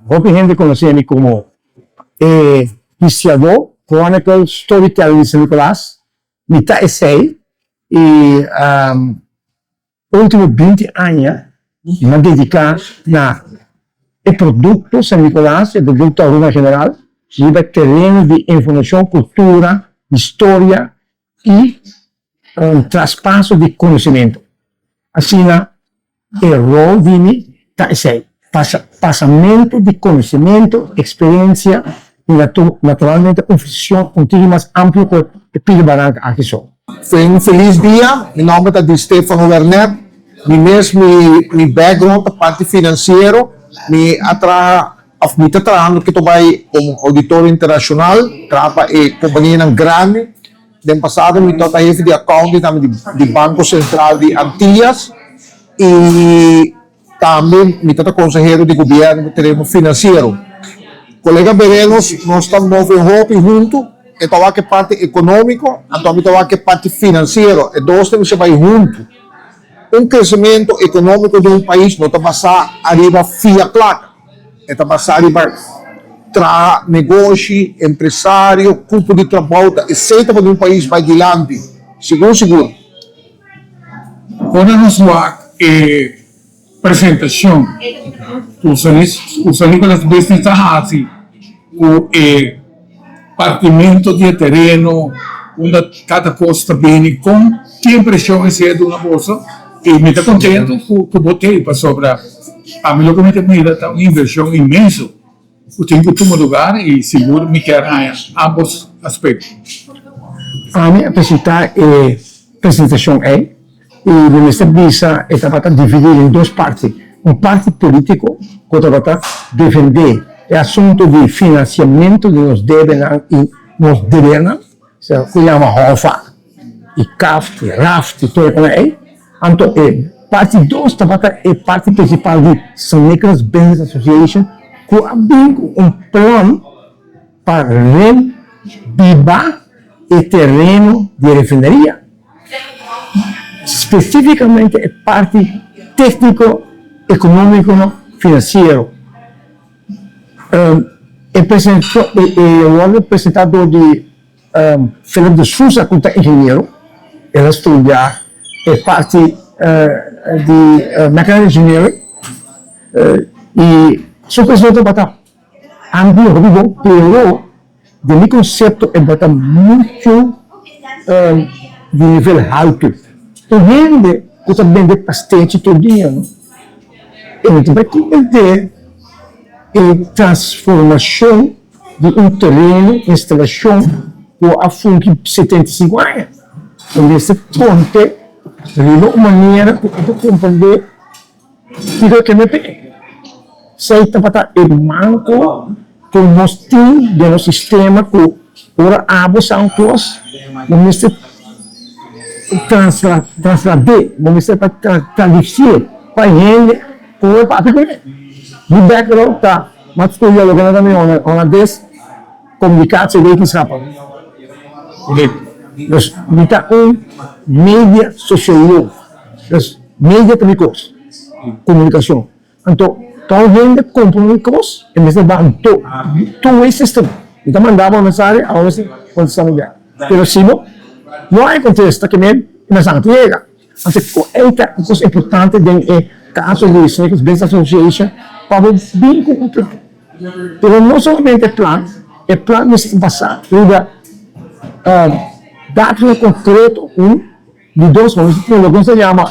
Hopi hende conoce mi como e histiadó chronicle storyteller di San Nicolas. Mi ta esey y pa ultimo binti aña m'ha dedica na e producto San Nicolas, e producto Aruba en general, riba e tereno di informacion, cultura, historia i un traspaso di konosementu. Asina e rol Vimy ta esei, pasamentu di konosementu, eksperensia i naturalmente un vision un tigi mas amplio ku e pidi baranka aki so. Ten un felis dia, mi nòmber ta Di Stefano Wernet, mi mes mi background ta parti finansiero, mi a traha. Of mi ta trahando ke to bai komo auditor internashonal, traha pa e kompanianan grandi. Den pasado mi tabata hefi di akounti tambe di Banko Sentral di Antillas i tambe mi tabata konsehero di gobièrnu ku tereno finansiero. Kolega Berenos, nos ta move hopi huntu, e ta wak e parti ekonómiko, anto mi ta wak e parti finansiero. E dos ta mester bai huntu. Un kresementu ekonómiko di un pais no ta basá ariba fia plaka. E ta basá riba traha negoshi, empresario, kupu di trabou ta esenta pa di un pais bai dilanti sigur sigur. Ora nos wak e presentacion ku San Nicolas Business a hasi ku e. Partimentu di e tereno unda kada kos ta bini kon ki impreshon esei a duna boso i mi ta kontentu ku bo ta ei pasobra a mi loke mi ta mira ta un invershon inmenso ku tin ku tuma lugar i sigur mi kier haña ambos aspekto. Fanny a presentá e presentashon ei. I mi mester bisa e tabata dividí den dos parti, un parti polítiko ku tabata defendé e asuntu di finansiamentu di nos debenan i nos debernan, esei ku yama Hofa i Kaft i Raft i tur e kunda ei, anto e parti dos tabata e parti prinsipal di St. Nicholas Business Association ku a bin ku un plan. Pa ren biba e tereno di e refineria, spesifikamente e parti tekniko, ekonomiko no finansiero. E presentó e wòrdu presentá dor di Philip de Sousa ku ta ingeniero, el a studia e parti di mechanical engineering i su pensamentu tabata. Andy Rubo pero den mi concepto e bota mucho di nivel halto. Un hende cu ta bende pastechi tur dia no e no ta bay comprende e transformacion di un tereno, instalacion cu a fungi setenta y cinco aña. Mester ponte riba un manera cu e ta comprende. Kiko ke mi pidi? Esei tabata e manko ku nos tin den nos sistema ku ora abo sa un kos bo mester traslad'é, bo mester ta tradisi'é pa e hende ku ora papia ku mi. Mi background ta maskula, loke nan ta mi holandés. Komunikatie wetenskap den nos mi ta un media sosiolog. Nos media ta mi kos, komunikashon. Anto tou hende kompra mi kos e mester baha do two way system. Mi ta manda bo mensahe a bo mester kontesta mi bel. Pero si no, no hay kontesta ke men e mester a ta yega. Asina ku ei ta un kos importante den e kaso di Second Business Association pa bo bin ku un plan. Pero no solamente plan, e plan mester basá riba datonan konkreto un di dos, nos ta tene loke nos ta yama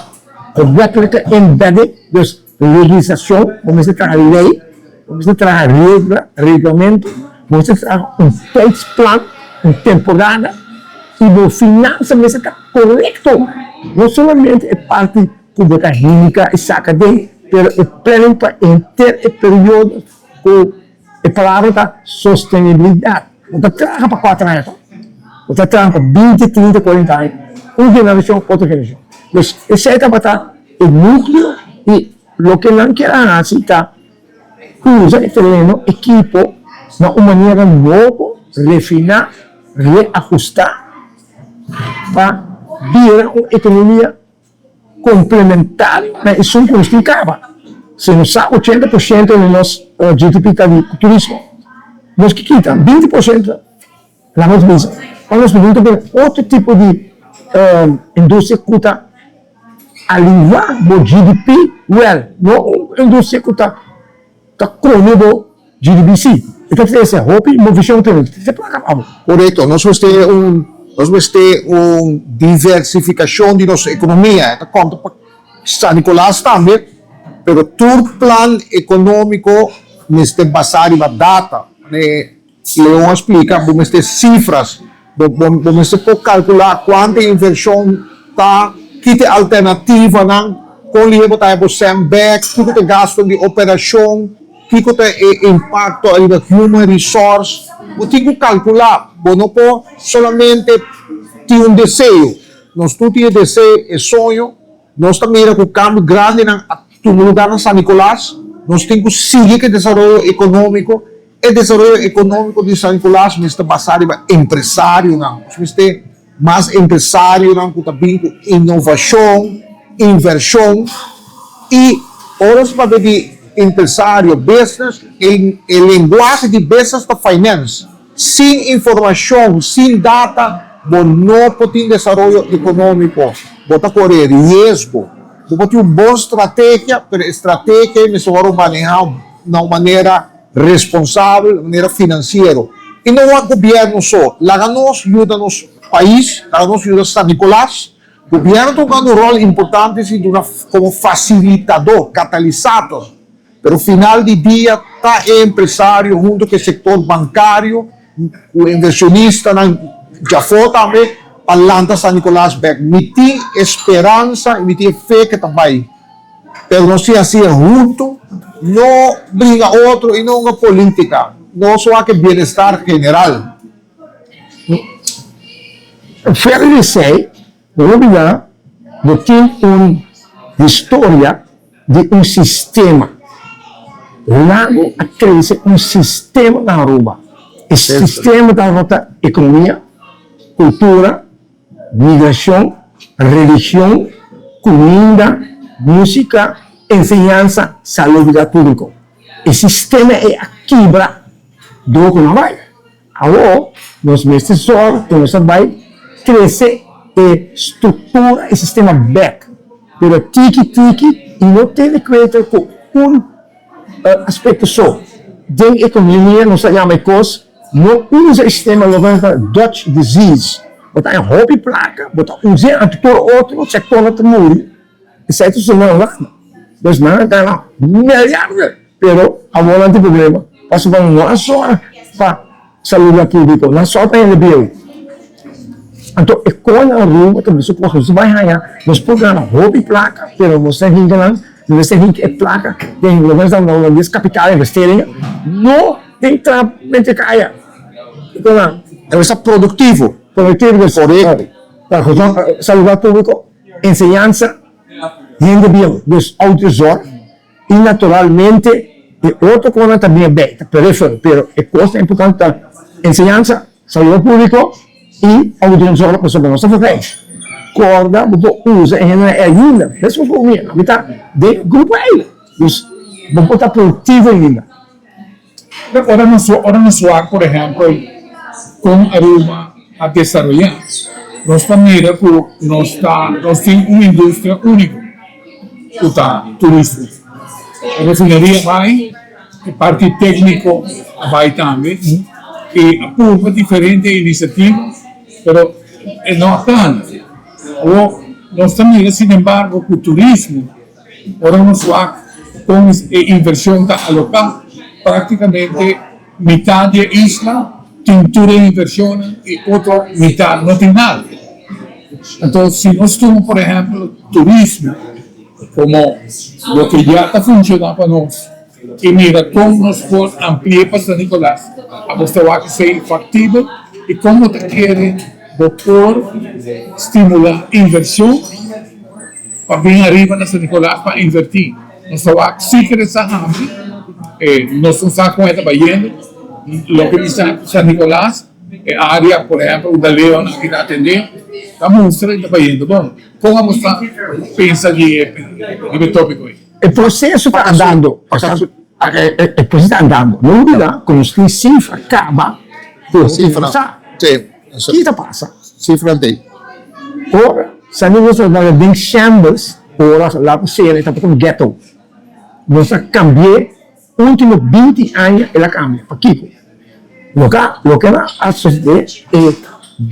regulatory embedding, dus. Legislacion bo mester traha ley, bo mester traha regla, reglamento, bo mester traha un tijdsplan, un temporada y bo finansa mester ta corecto, no solamente e parti cu bo ta hinca y saca den, pero e planning pa enter e periodo cu E palabra ta sostenibilidad. Bo ta traha pa cuater aña tur. Bo ta traha pa binti, trinta, cuarenta aña. Un generacion, otro generacion. Entonces, esey tabata e nucleo y loke nan kier a haci ta usa e terreno, equipo, na un manera nobo, refina, reajusta pa bira un economia. komplementario na esun ku nos tin kaba. Si nos sa ochenta por shento di nos GDP ta di turismo, nos ke kita binti por shento na nos bisa pa nos pudi ta bira otro tipo di industria ku ta alingua bo GDP, wèl, no un industria ku ta. Ta kono bo GDBC. E ta trae esei hopi inmovishon ku tene. Te plaka pa bo. Korekto. Nos wens te un, nos wens te un diversifikashon di nos ekonomia. E ta konta pa San Nikolas tambe. Pero tur plan ekonómiko mester basá riba data. Si lo bon splica, bo mester cifras. Bo mester por calcula cuanto inversion ta, ki ta e alternativanan, con lihé bo ta haña bo cent bek, kiko ta e gasto di operacion, kiko ta e impacto riba human resource. Bo tin cu calcula, bo no por solamente tin un deseo. Nos tur tin e deseo, e soño. Nos ta mira cu cambio grandenan a tuma lugar na San Nicolas. Nos tin cu sigui cu e desaroyo economico. E desaroyo economico di San Nicolas mester ta basa riba empresarionan. Nos mester mas empresarionan cu ta bin cu innovacion, inversion. Y ora nos papia di empresario, business, e lenguahe di business ta finance. Sin informashon, sin data, bo no por tin desaroyo ekonómiko, bo ta koré riesgo. Bo por tin un bon strategia, pero e strategia ei mester wòrdu manehá na un manera responsabel, manera finansiero. I no wak gobièrnu so, laga nos yuda nos pais, laga nos yuda San Nikolas. Gobièrnu ta jugando un ròl importante si duna komo fasilitadó, catalisator. Pero final di dia ta e empresario hunto ku e sektor bankario ku e invershonistanan djafó tambe pa lanta San Nikolas bèk. Mi tin e speransa i mi tin e fe ku e ta bai. Pero nos tin hasi e hunto, no bringa otro i no hunga polítika. Nos wak e bienestar general. Fuera di esei, Robina, bo tin un historia di un sistema. Lago a trece un sistema na Aruba. E sistema ta rota economia, cultura, migracion, religion, cuminda, musica, enseñansa, salud y dal publico. E sistema ei a kibra door cu no a bay. Awor nos mester sòru ku nos ta bai trese e struktura, e sistema bèk, pero tiki tiki i no tene kuenta ku un aspekto so. Den ekonomia nos ta yama e kos no usa e sistema loke nan ta Dutch disease. Bo ta haña hopi plaka, bo ta usa e antikorp otro sektornan ta muri. E sètu siman nan, dos nan a gana milyarnan, pero awor nan tin problema pasobra nan no a sòru pa saluda públiko, nan a sòru pa hende bieu. Anto e kon nan Aruba ta bisa ku asò si bai haña nos por gana hopi plaka, pero nos ta hint nan, nos mester hint e plaka den lo men esnan holandes di capital investeringen no tin trap mentekaya i kon nan ta bisa produktivo, produktivo den foreho, saluda públiko. Enseñansa hende bieu des outro zor y naturalmente e otro conan ta bia bay ta peripheral pero e cosnan importante ta enseñansa, salud publico y ouderenzorg pasobra nos ta foca ey. Corda bo por usa e hendenan ey ayuda mesmo cu mi, ami ta den e grupo ey, dus bo por ta productivo ainda. Pero ora nos ora nos wak por ehempel kon Aruba a desaroyá nos ta mira ku nos ta nos tin un industria úniko ku ta turismo. E refineria a bai, e parti tékniko a bai tambe i a purba diferente inisiativa pero e no a tanda. Awor nos ta mira sinembargo ku turismo. Ora nos wak kon e invershon ta aloká, práktikamente mitá di e isla tin tur e invershonnan i otro mitá no tin nada. Anto si nos tuma por ehèmpel turismo komo loke ya ta funshoná pa nos i mira kon nos por ampli'é pa San Nicolas, a bos ta wak esei faktibel i kon bo ta kere bo por stimulá invershon? pa bin ariba na San Nicolas pa inverti nos ta wak si kere sa hasi e nos no sa kon e ta bayendo loke di San Nicolas e area por ehempel unda Leo nan kita atende ta mustra di ta bayendo bon kon abo ta pensa di e topiko ei? E proseso ta andando pasasu e proseso ta andando no olbida ku nos tin sifra kaba ku nos tin sa. Ki ta pasa si Frantei ora sa ni nos a laga den chambers ora la ku sera e tabata un ghetto? Nos a kambi'é último binti aña el a kambia. Pakiko? Loke loke a sosodé e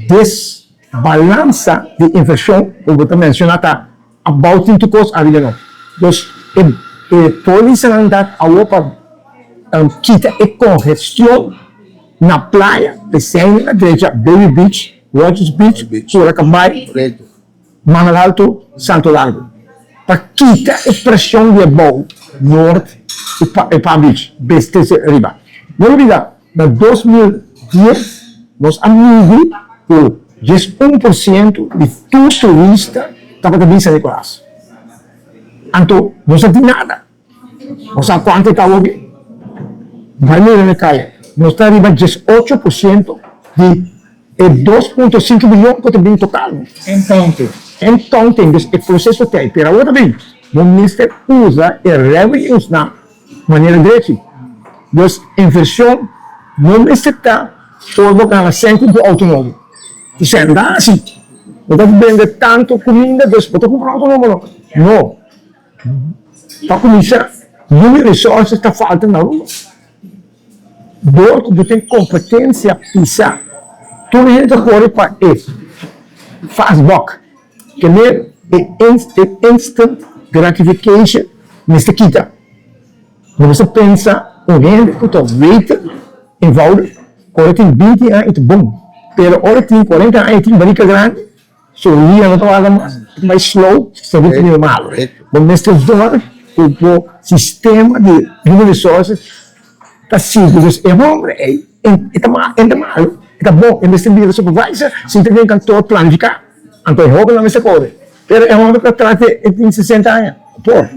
desbalansa di invershon ku bo ta menshoná ta. A boutin tu kos ariba no. Dus e e polisanan ta awor pa kita e kongestion na playa, esei na drecha Baby Beach, Rogers Beach, Cura Cambay, Mangal Alto, Santo Largo. Pa kita e preshon di e bou, Noord, e Palm Beach, BSTC, riba. No olbida Na dos mil dies nos a midi ku dies un por sientu di tur turista tabata bin San Nicolas. Anto no sa tin nada. No sa kuantu e ta hopi. Bai mira na kaya, nos ta riba dies ocho por sientu di e dos punto sinku milion ku ta bin total. Entonces, e proseso ta e pera awor ta bin. Bo mester usa e revenuesnan. Manera Greki, Dios inversion no mester ta for bo kala sèn ku bo outo nobo. Ku sèn ta hasi? Bo ta bende tantu kuminda dus bo ta kumpra outo nobo? No. No. Pa kuminsá, no e resòrsis ta falta na Aruba. Dor ku bo tin kompetensia pisa. Tur e hende ta kore pa e fast buck. Kende e instant gratification mester kita. Bo mester pensa un hende ku ta weten envoudig ora e tin binti aña e ta bon, pero ora e tin kuarenta aña e tin barika grandi. So ria no ta wak mas, ta bai slow, ta bai di normal. Bo mester dor ku bo sistema di human resources ta sigui, because e hombre ei e ta malo, e ta malo, e ta bon, e mester bira supervisor si e ta den kantor planifiká, anto e hobennan mester kore. Pero e hombre ta tras di e tin sesenta aña, no por.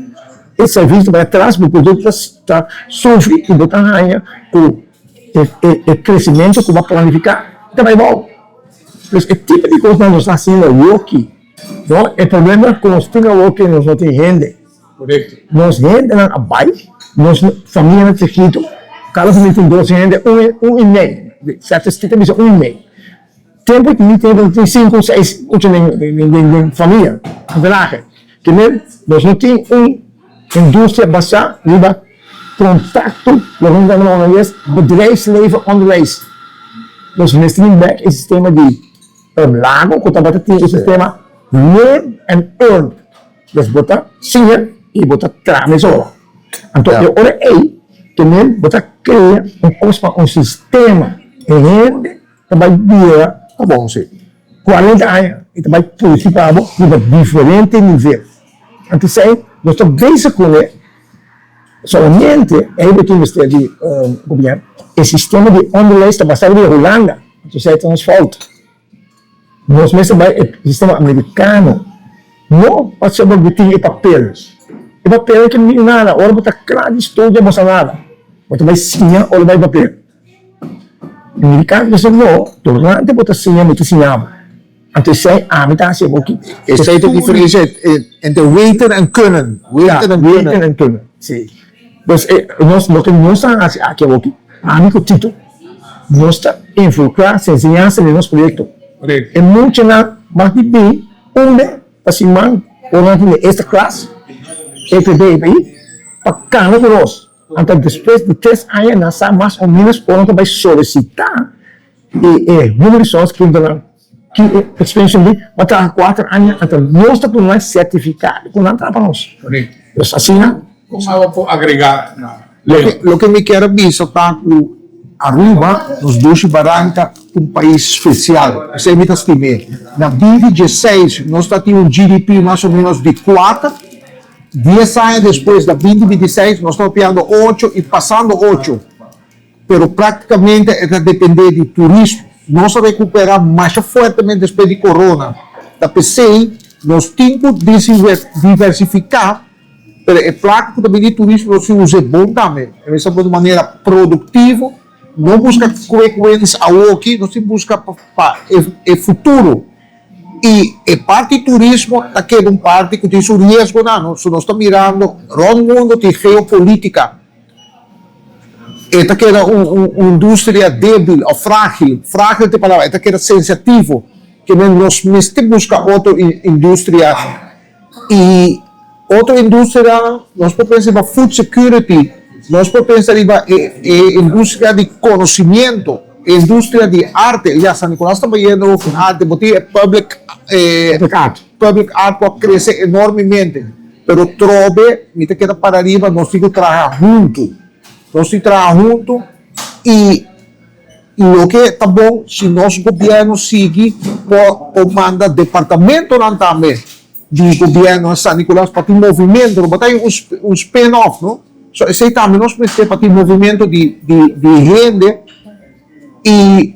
E sèrvis ta bai atras, bo produkto ta sufri i bo ta haña ku E kresimentu ku bo a planifiká ta bai bou. Pues e tipo di kosnan nos ta hasiendo ayoki, no e probleman ku nos tin awoki nos no tin hende. Nos hendenan a bai, nos familianan chikitu, kada familia tin dos hende, un i mei, sèftes tin ta bisa un i mei. Tempu ku mi tin tin sinku, seis, ocho men den den famia, antenahe, primer nos no tin un industria basá riba kontakto, loke nos ta noba hoy es bedrijfsleven onderwijs. Nos mester tin bek e sistema di urb lago ku tabata tin e sistema learn and earn, dus bo ta siña i bo ta traha mesora. Anto e ora ei, primer bo ta krea un kos pa un sistema di hende, Ta bai bira pa bo si cuarenta aña y ta bai puchi pa bo riba diferente nivel. Anto esey nos ta bay sacune solamente ey bo tin mester di copiar e sistema di onderwijs ta basa riba Hulanda, anto esey ta nos fout. Nos mester bay e sistema americano, no pa saber bo tin e papel, e papel no ta mean nada, ora bo ta cla di studia bo sa nada, bo ta bay siña ora bay papel. Dedica mi esnan no durante bo ta siña mi ki siña bo, anto esei ami ta hasi e bo kiti. Esei ta diferencia entre weten en kunnen. Pues nos loke nos ta hasi aki awoki, ami ku Tito nos ta involucra sin enseñansa den nos proyecto. E muchanan mas di bin un be pa siman ora nan tin e extra class, e ta bay pa cana ku nos. Anto despues di tres aña nan sa mas o menos ora nan ta bai solicita y e Human Resource quiere duna nan ki e extension di pa traha cuater aña anto nos ta pone nan certifica cu nan traha pa nos. Pues asina. Cosa awa por agrega na Leo? Loke mi kier a bisa ta cu Aruba, nos dushi Barranca, un pais special. Esey mi ta stima. Na bifi dieseis nos ta tin un GDP mas o menos di cuater. Dies aña despues, na binti binti i seis, nos ta hopiando ocho i pasando ocho, pero práktikamente e ta dependé di turismo. Nos a rekuperá masha fuertemente despues di corona, ta p'esei nos tin ku diversifiká, pero e plata ku ta bini di turismo nos tin us'é bon tambe. E mester por di manera produktivo, no buska kuekwens awoki, nos tin buska pa e futuro. Y e parti turismo ta keda un parti cu tin su riesgonan, no? So nos ta mirando rond mundo tin geopolitica. E ta keda un un industria debil of fragil, fragil ta e palabra, e ta keda sensativo. Kende nos mester busca otro industria. y otro industrianan nos por pensa riba food security nos por pensa riba e e industria di conocimiento e industria di arte ya San Nicolas ta bayendo con arte bo tin e public public art por crece enormemente pero trobe mi ta keda para riba nos tin cu traha hunto nos tin traha hunto y y loke ta bon si nos gobierno sigui por por manda departamentonan tambe di gobierno na San Nicolas pa tin movimiento no bo ta un un spin off no so esey tambe nos mester pa tin movimiento di di di hende y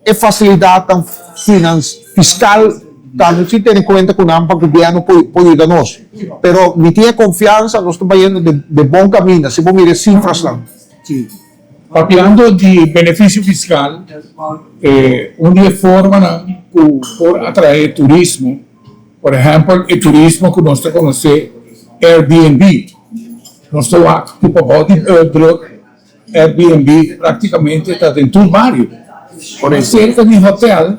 e facilidadnan finan fiscal tambe si tene cuenta cu nan pa gobierno por por yuda nos pero mi tin e confiansa nos ta bayendo den den bon caminda si bo mira e cifrasnan. Papiando di benefisio fiskal, e un di e formanan ku por atraé turismo, por ehèmpel e turismo ku nos ta konosé Airbnb. Nos ta wak ku pa bou di Burbrook, Airbnb praktikamente ta den tur bario. Ora e serka di hotèl,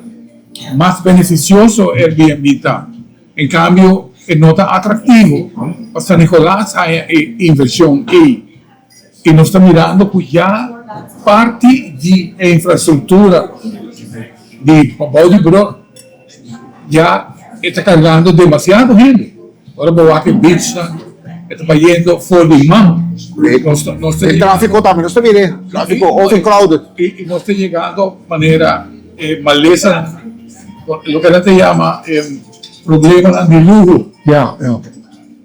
mas benefisioso Airbnb ta. En kambio, e no ta atraktivo. Pa San Nicolas haña e invershon ei. y nos ta mirando cu ya parti di e infrastructura di pabao di Broe ya e ta cargando demasiado hende. Ora bo wak e beachnan e ta bayendo for di man. Nos ta yegando manera e malesanan, loke nan ta yama e problemanan di luho.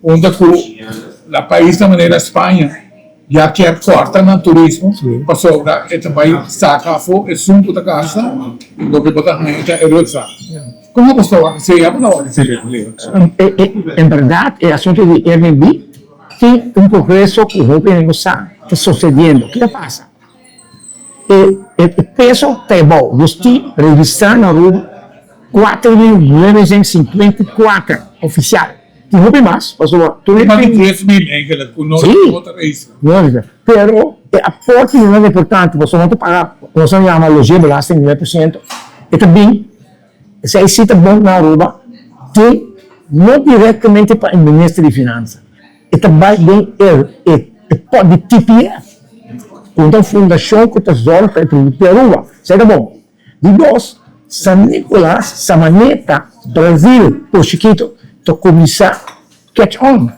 Punta ku la pais na manera Spaña ya kier kòrta nan turismo pasobra e ta bai saka afó e sun ku ta gasta loke bo ta haña ta e rutsa. Kon abo tabata hasi ya? Abo tabata hasi den Bolivia? En bèrdat e asuntu di Airbnb tin un progreso ku hopi hende no sa ta sosediendo. Ke ta pasa? E peso ta e bou. Nos tin registrá na Aruba kuater mil novehènt i sinkuenta i kuater ofisial. Tin hopi mas, pasobra tur e tin. Tres mil engelek ku nos tin otro registrá. Si, lógika. Pero e aporte di nan ta importante, pasobra nan ta paga ku nos ta yama logeerbelasting nueve por siento. E ta bin, esei sí ta bon na Aruba, tin no direktamente pa e Minister di Finansa. E ta bai den e pòt di TPF, ku ta un fundashon ku ta zòrg pa e tribu di Aruba. Serka bon. Di dos, San Nicolas, Samaneta, Brazil, Port Chikito ta kuminsá catch on.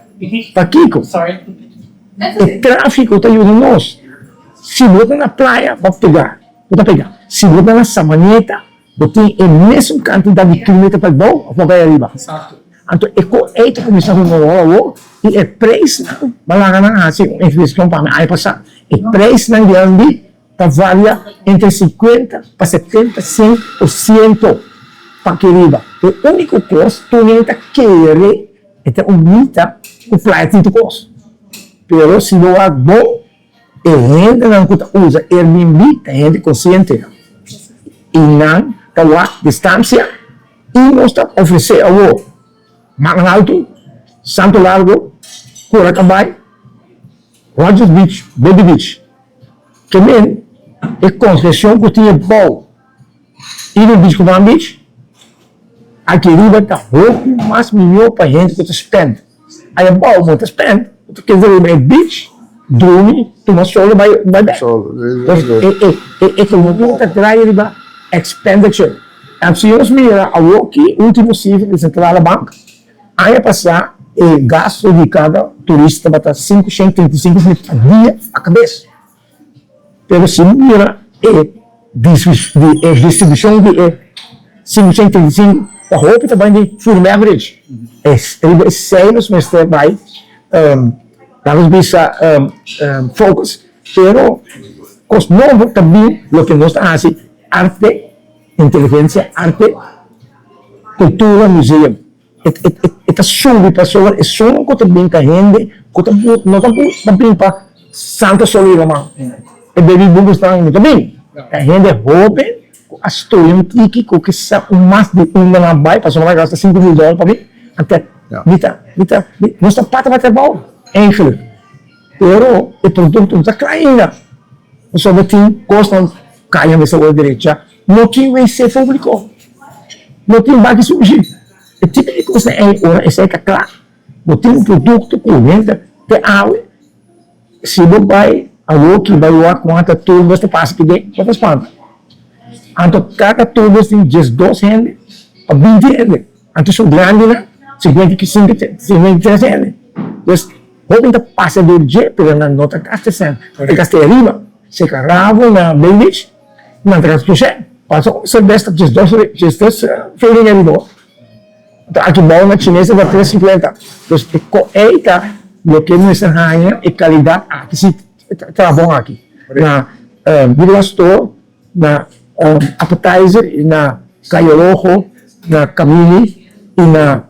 Pakiko? E tráfiko ta yuda nos. Si bo ta na playa, bo ta pegá. Bo ta pegá. Si bo ta na Samaneta. Bo tin e mesun kantidad di kilometer pa e bou of pa bay ariba. Anto e ko ey ta kuminsá hunga wou awó i e preisnan malanga nan a hasi un infleshion pami aña pasá. E preisnan di Andy ta varia entre sinkuenta pa setenta sint por siento p'akí riba. E úniko kos tur hende ta kere e ta un mita ku playa tintu kos. Pero si lo wak bon. E hendenan ku ta usa Airbnb ta hende konsientenan i nan ta wak di stansia i nos ta ofresé awor Makan Alto, Santo Largo, Curaca Bay, Rogers Beach, Body Beach. Ke men e konsesion ku tin e bou. I nos bish ku nan bish, aki riba ta hopi mas mihó pa hende ku ta spend. I abou bo ta spend, bo ta keda riba e bish, drumi, tuma solu bai bek. Entonces, e ekonomia ta traia riba expenditure. Si nos mira awoki, último sifra di Sentrale Bank, aña pasá e gastu di kada turista tabata sinku shentru trinta i sinku lember pa dia pa kabes. Pero si bo mira e distribucion di e sinku sento treinta i sinku, pa hopi ta bai di food and beverage, e riba esey nos mester bai, lanos bisa focus, pero cos nobo ta bin, loke nos ta haci, arte, inteligencia, arte, cultura, museum. E ta subi pasobra e son ku ta bin ta hende ku ta bin, no ta bin pa santa solo riba man. E baby boomers nan no ta bin, ta hende hoben ku a studia un tiki ku kisa un mas di unda nan a bai pasobra nan a gasta sinku mil dòlar pa bin. Anto mi ta, mi ta, nos ta pata pa trabou, eigenlik, pero e produktonan no ta kla ainda pasobra tin kosnan kaya mester wòrdu derecha. No tin wc públiko. No tin baki sushi. E tipo di cosa ei, ora esei ta cla, bo tin un producto cu henter te awe, si bo bai awoki, bai wak con ata turbos ta pasa kib'e, no ta spanta. Anto cada turbos tin djes dos hende pa binti hende, anto esun grandinan cincuenta y cinco, cincuenta y tres hende. Pues, hopi ta pasa dor dje, pero nan no ta gasta esnan, nan ta gasta e ariba, seca rabo na Bay Beach. Na transcurso pasa un cervez ta djes dos djes tres fleling e riba oh. Ta aki bao na chines ta ta tres cincuenta pues cu ey ta loke no mester haña e calidad aki si ta bon aki na bido na store na appetizer y na cayo rojo na camini y na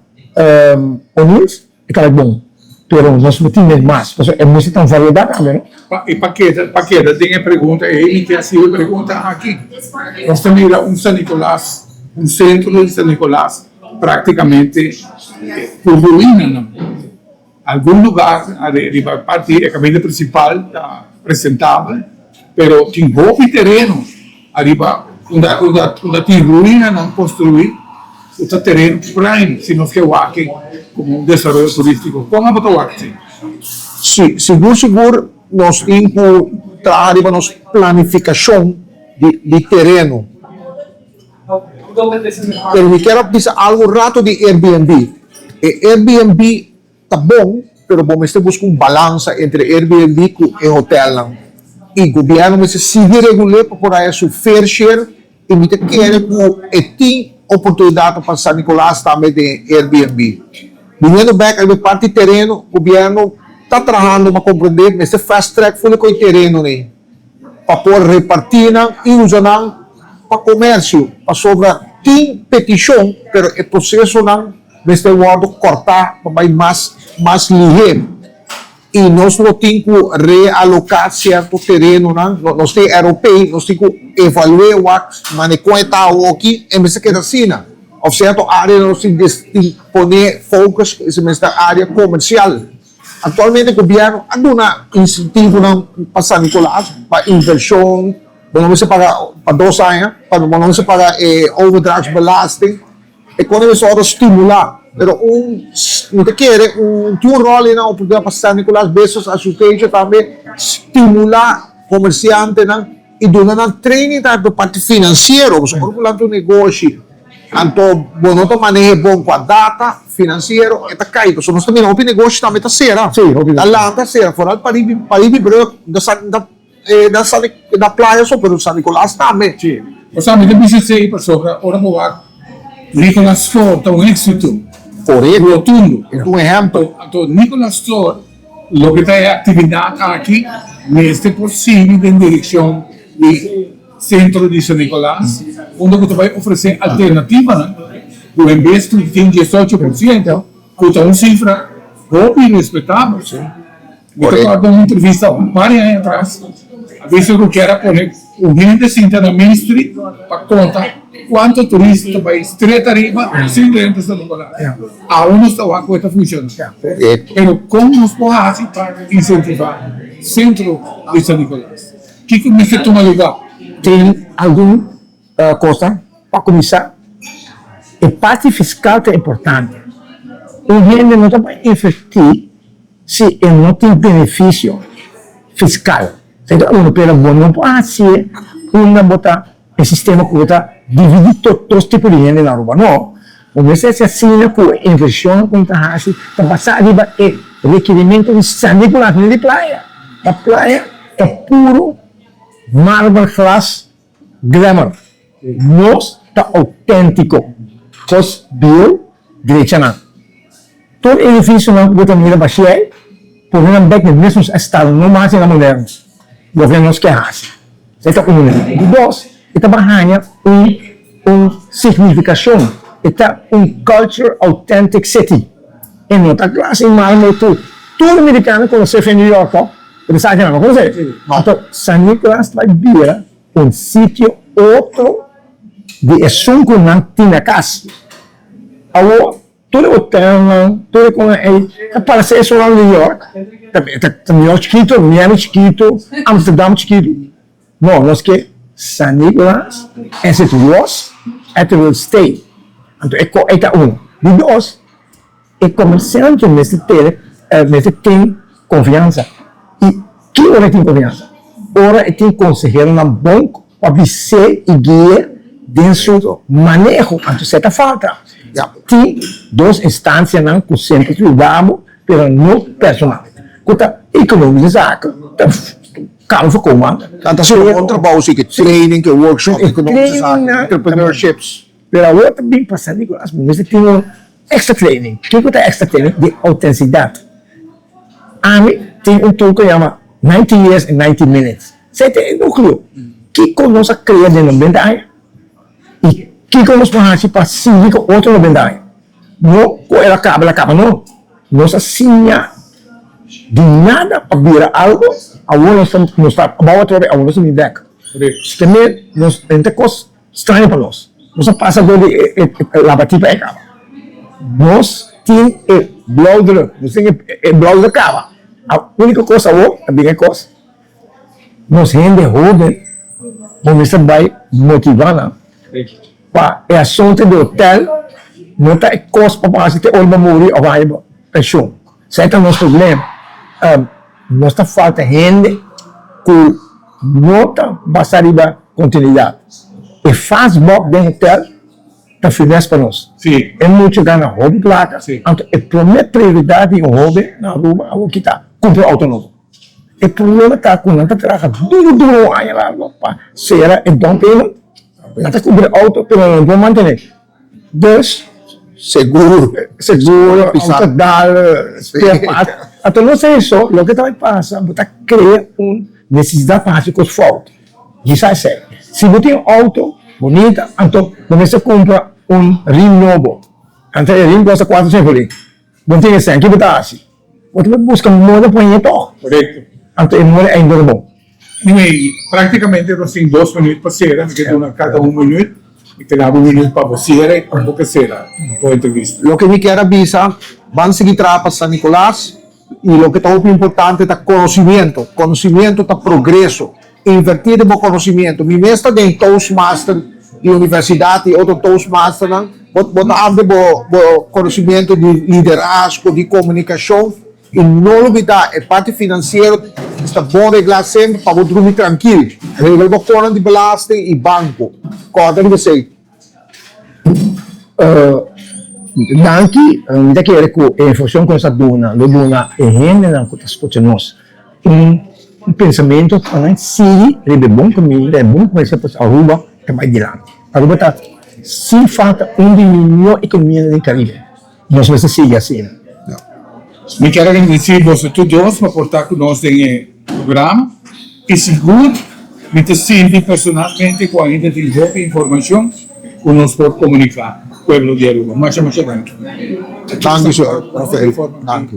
onions. E ta bay bon, pero nos lo tin den mas, pasobra e mester ta un variedad tambe, no? I pa keda pa keda den e pregunta ei, mi ke hasiu e pregunta aki, Nos ta mira un San Nicolas, un sentro di San Nicolas prácticamente cu ruinanan. Algun lugar are riba parti di e camino principal ta presentabel, pero tin hopi tereno. Ariba unda tin ruinanan konstruí, ku ta teren prime, si nos ke wak-e komo un desaroyo turístiko. Kon abo ta wak-e así? Sí, sigur sigur nos tin ku traha riba nos planifikashon di tereno. Pero mi kier a bisa algu rato di Airbnb. E Airbnb. Ta bon, pero bo mester buska un balansa entre Airbnb ku e hotelnan. I gobièrnu mester sigui regul'é pa por haña su fair share i mi ta kere ku e tin oportunidatnan pa San Nicolas tambe den Airbnb. Biniendo bèk riba e parti tereno, gobièrnu ta trahando, m'a komprendé mester fast track full e koe terenonan ei. pa por repartí nan i usa nan pa komersio pasobra tin petishon pero e prosesonan mester wòrdu kòrtá pa bai mas mas lihé i nos lo tin ku realoká sierto terenonan nos tin eropei nos tin ku evalué wak manera kon e ta awoki e mester keda asina òf sierto áreanan nos tin poné focus ku esei mester área komersial. Aktualmente gobièrnu a duna insentivonan pa San Nicolas pa invershon. Bo no mester paga pa dos aña, tambe bo no mester paga e overdrachtsbelasting. E kos na mester ora stimulá. Pero un, mi ta kere un tin un ròl ei na oportunidat pa San Nicolas Business Association tambe stimulá komersiantenan. I duna nan training ta e parti finansiero, pasobra ora ku lanta un negoshi, anto bo no ta maneha e bon kua data finansiero, e ta kai, pasobra nos ta mira hopi negoshi tambe ta sera, ta lanta sera, foral pariba di brug, na playa so, pero San Nicolas tambe. Si, bo sa mi ta bisa esei pasobra ora bo wak Nicolas Store ta un éksito rotundo, anto Nicolas Store. Loke ta e aktividat aki mester por sigui den direkshon di Sentro di San Nicolas, unda ku ta bai ofresé alternativanan ku en bes ku tin diesocho por siento, ku ta un sifra hopi respetabel. Mi ta kòrda un entrevista un par di aña atras, a bisto ku kier a pone. Un hende sinta na Main Street pa konta kuantu turista ta bai stret ariba sin renta sta ta paga. Awe nos ta wak ku e ta funshona, pero kon nos por hasi pa insentiva sentro di San Nicolas? Kiko mester tuma lugar? Tin algun kosnan. Pa kuminsá, e parti fiskal ta importante. Un hende no ta bai invertí si e no tin benefisio fiskal. Kada unu pega bo nomber por haci unda bo ta e sistema cu bo ta dividi tot dos tipo di hende na Aruba no bo mester haci asina cu e inversionnan cu bo ta haci ta basa riba e requirimento di sali cu laga hende di playa ta playa ta puro marber glas Grammar, Nos ta outéntiko, kos bieu drechanan. Tur edifisionan ku bo ta mira bashié ei, pone nan bek den mesmu estado, no mas e na moderno, loke nos ke hasi. E ta unu. Di dos, e ta por haña un un signifikashon, e ta un culture authentic city. E no ta klase i mal mei tur. Tur mirikano konosé fe New York, tò? Bo sa kinan lo konos'é? No. Anto, San Nicolas ta bira un sitio otro di esun ku nan tin na kas. Awo, tur e hotelnan, tur e konan ei, ta paras'é esun lado di New York. Ta, ta New York chikitu, Miami chikitu, Amsterdam chikitu. No, nos ke San Niklas es e tros e te wil stay. Anto e koe ta uno. Di dos, e komersiante mester tene, mester tin konfiansa. I ki ora e tin konfiansa? Ora e tin konseheronan bon pa bis'é i gui'é den su maneho. Anto se ta falta, tin dos instansianan ku semper yuda bo, pero no personal, ku ta ekonómico zaken. Carl for Koeman ta haciendo un bon trabajo si ke training, ke workshop, ke no mester sa aki, entrepreneurships. Pero awor ta bin pasa Nicolas bo mester tin un extra training. Kiko ta e extra training? Di autenticidad. Ami tin un tool ke yama Ninety Years in Ninety Minutes. Esei ta e nucleo. Kiko nos a crea den nobenta aña y kiko nos por haci pa sigui cu otro nobenta aña. No cu el a caba el a caba no. Nos a siña di nada pa bira algo, awor nos ta nos ta abou atrobe, awor nos ta bin bek. Te me nos den ta e kos straño pa nos. Nos a pasa dor di e labati pa e kaba. Nos tin e blauwdruk, nos tin e blauwdruk kaba. Único kos awor ta bin e kos Nos hende hoben por mester bai motivá nan pa e asuntu di hotel no ta e kos pa bo hasi te ora bo muri òf bo haña bo penshon. Esei ta nos problema. Nos ta falta hende ku no ta basa riba kontinuidat. E fas bòk den hotel ta firmes pa nos. E mucha gana hopi plaka, anto e promé prioridat di un hoben na Aruba awor kita kumpra un outo nobo. E problema ta cu nan ta traha duro duro un aña largo pa cera e down payment. Nan ta cubri e auto pero nan no por mantene. Dus, Seguro, seguro, autodad, spare parts. Anto nos ta eso, loke ta bay pasa, bo ta crea un necesidad pa haci cos fout. Ji sa esey. Si bo tin auto bonita, anto bo mester cumpra un rim nobo. Antes e rim costa cuatro, cinco lim. Bon tin esei, kico ta haci? Bo tin que busca moda pa heye tog. Correcto. Anto e moda ei dor bo. Anyway, practicamente nos tin dos minuut pa cera, mi ke duna cada un minuut, mi ke daba un minuut pa bo cera y pa bo ke cera bo entrevista. Loke mi kier a bisa, ban sigui traha pa San Nicolas y loke ta hopi importante ta conocimiento, conocimiento ta progreso. Invertí den bo konosimiento. Mi mes ta den Toastmaster di universidat i otro Toastmasternan. Bo bo ta amplia bo bo konosimiento di liderazgo, di komunikashon. I no lubidá e parti finansiero ta bon reglá semper pa bo drumi trankil. Regla bo kònan di belasting i banko. Kòrda riba esei. Danki, mi ta kere ku e informashon ku nos a duna lo duna e hendenan ku ta skucha nos un pensamentu pa nan sigui riba e bon kaminda, riba e bon kuminsha pues Aruba ta bai dilanti. Aruba ta sin falta un di miño ekonomianan den Karibe. Nos mester sigui asina. Mi ker agradesí boso tur dos pa por ta ku nos den e programa i sigur mi ta sinti personalmente ku ainda tin hopi informashon ku nos por komuniká pueblo di Aruba. Masha masha danki. Danki su Rafael. Danki.